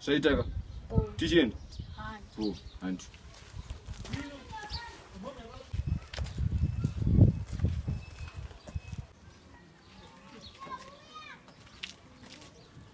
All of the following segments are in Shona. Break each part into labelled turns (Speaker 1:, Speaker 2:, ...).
Speaker 1: Shaitaka. Tichienda. Go. Hanti.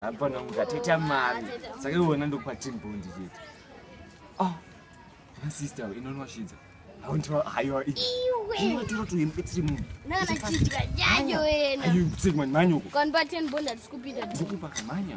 Speaker 1: apa namuka teta mari saka iwona ndokwatiri bondi chete ah sister inonwashidza haundiwa haiwa iweinotora tuimbe tiri munhu nanachidya
Speaker 2: jajo wena ayu kutsiri mani manyoko
Speaker 1: kwanba ten bond hatisi
Speaker 2: kupinda ndikupa kamanya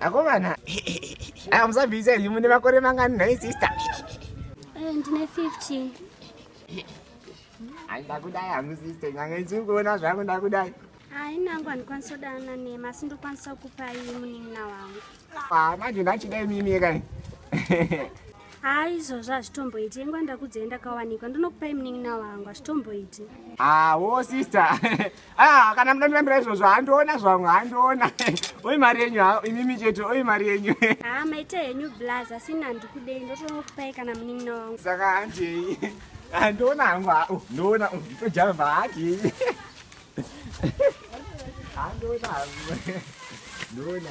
Speaker 1: akomana amusabvisa imi mune makore mangani nhai sister eh,
Speaker 3: ndine 15
Speaker 1: ai ndakudai hangu sister nyanga isi kuona zvangu ndakudai hai nangu
Speaker 3: handikwanisa kudanana nema asi ndokwanisa kukupai munin'ina
Speaker 1: wangu
Speaker 3: ah,
Speaker 1: manje
Speaker 3: ndachidai mimi
Speaker 1: yekai
Speaker 3: haa izvozvo hazvitomboiti yengwa ndakudzai ndakawanikwa ndinokupai munin'ina wangu hazvitomboiti hawo
Speaker 1: sister ah, kana muda ndinambira izvozvo handiona zvamwe handiona oi mari yenyu imimi chete oi mari yenyu haa ah, maita henyu
Speaker 3: blaz asi ina handikudei ndotonokupai kana munin'ina wangu saka handei
Speaker 1: handiona hangu hao ndoona nditojamba hadi handiona hangu ndoona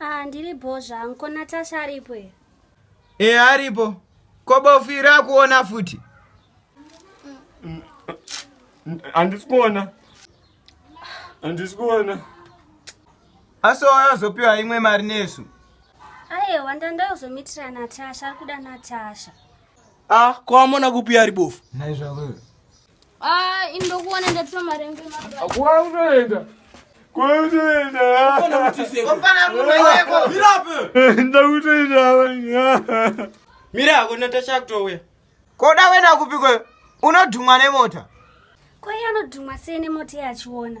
Speaker 4: Ah, ndiri
Speaker 3: bho zvangu. Ko Natasha aripo here? E aripo.
Speaker 4: Ko bofu iri akuona futi?
Speaker 1: Handisi kuona. Handisi kuona. Asi waya zopiwa
Speaker 4: imwe mari nesu. Ayewa
Speaker 3: ndandayozomitira Natasha, ari kuda Natasha. Ah, ko
Speaker 4: amona kupi ari bofu? Naizvavo.
Speaker 1: Ah,
Speaker 2: indokuona ndatura marenge
Speaker 4: makuaunoenda
Speaker 1: mira ako natasha
Speaker 4: kutouya koda wena kupi kweyo unodhumwa nemota kwaiye
Speaker 3: anodhumwa sei nemota yachiona